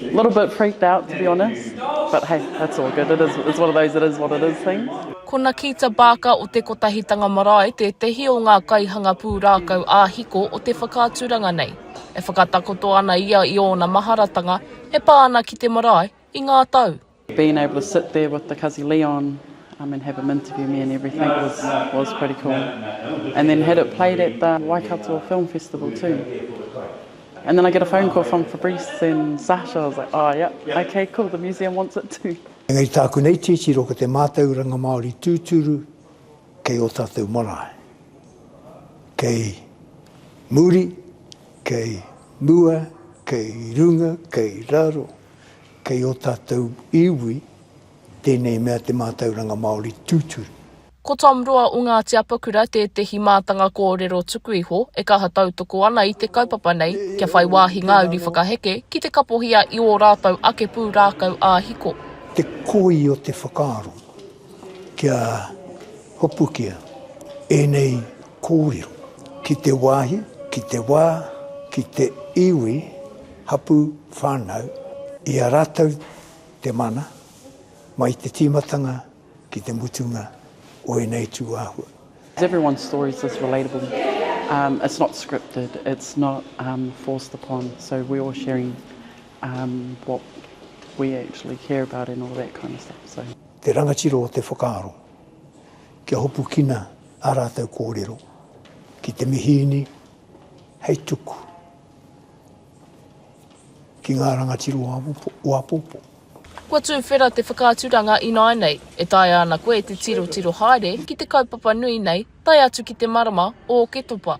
Little bit freaked out to be honest, but hey, that's all good, it is, it's one of those it is what it is things. Ko Nakita Barker o Te Kotahitanga Marae tētehi o ngā kaihanga pūrākau ā-hiko o te whakaaturanga nei. E whakatakoto ana ia i ōna maharatanga e pā ana ki te marae i ngā tau. Being able to sit there with the Kazi Leon um, and have him interview me and everything was, was pretty cool. And then had it played at the Waikato Film Festival too. And then I get a phone call from Fabrice and Sasha. I was like, oh, yeah, okay, cool, the museum wants it too. Engari tāku nei titiro ko te mātauranga Māori tūturu kei o tātou marae. Kei muri, kei mua, kei runga, kei raro, Kei ō tātou iwi tēnei mea te mātauranga Māori tūturu. Ko Tom Roa o Ngāti Apakura tētehi mātanga kōrero tuku iho e kaha tautoko ana i te kaupapa nei kia whai wāhi ngā uri whakaheke ki te kapohia i ō rātou ake pūrākau ā-hiko. Te koi o te whakaaro kia hopukia ēnei Kōrero, ki te wāhi, ki te wā, ki te iwi, hapū, whānau, i a rātou te mana, mai te tīmatanga ki te mutunga o ēnei tū āhua. Everyone's stories is relatable, it's not scripted, it's not forced upon, so we're all sharing what we actually care about and all that kind of stuff. Te rangatira o te whakaaro. Kia hopukina ā rātou kōrero ki te mihīni hei tuku ki ngā rangatira o āpōpō. Kua tūwhera te whakaaturanga ināinei e taea ana koe te tirotiro haere ki te kaupapa nui nei tae atu ki te marama o Oketopa.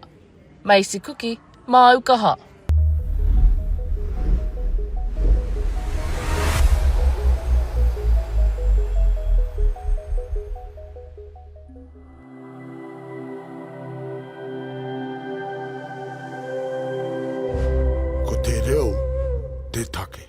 Macy Kuki, māu kaha. Ko te reo te take.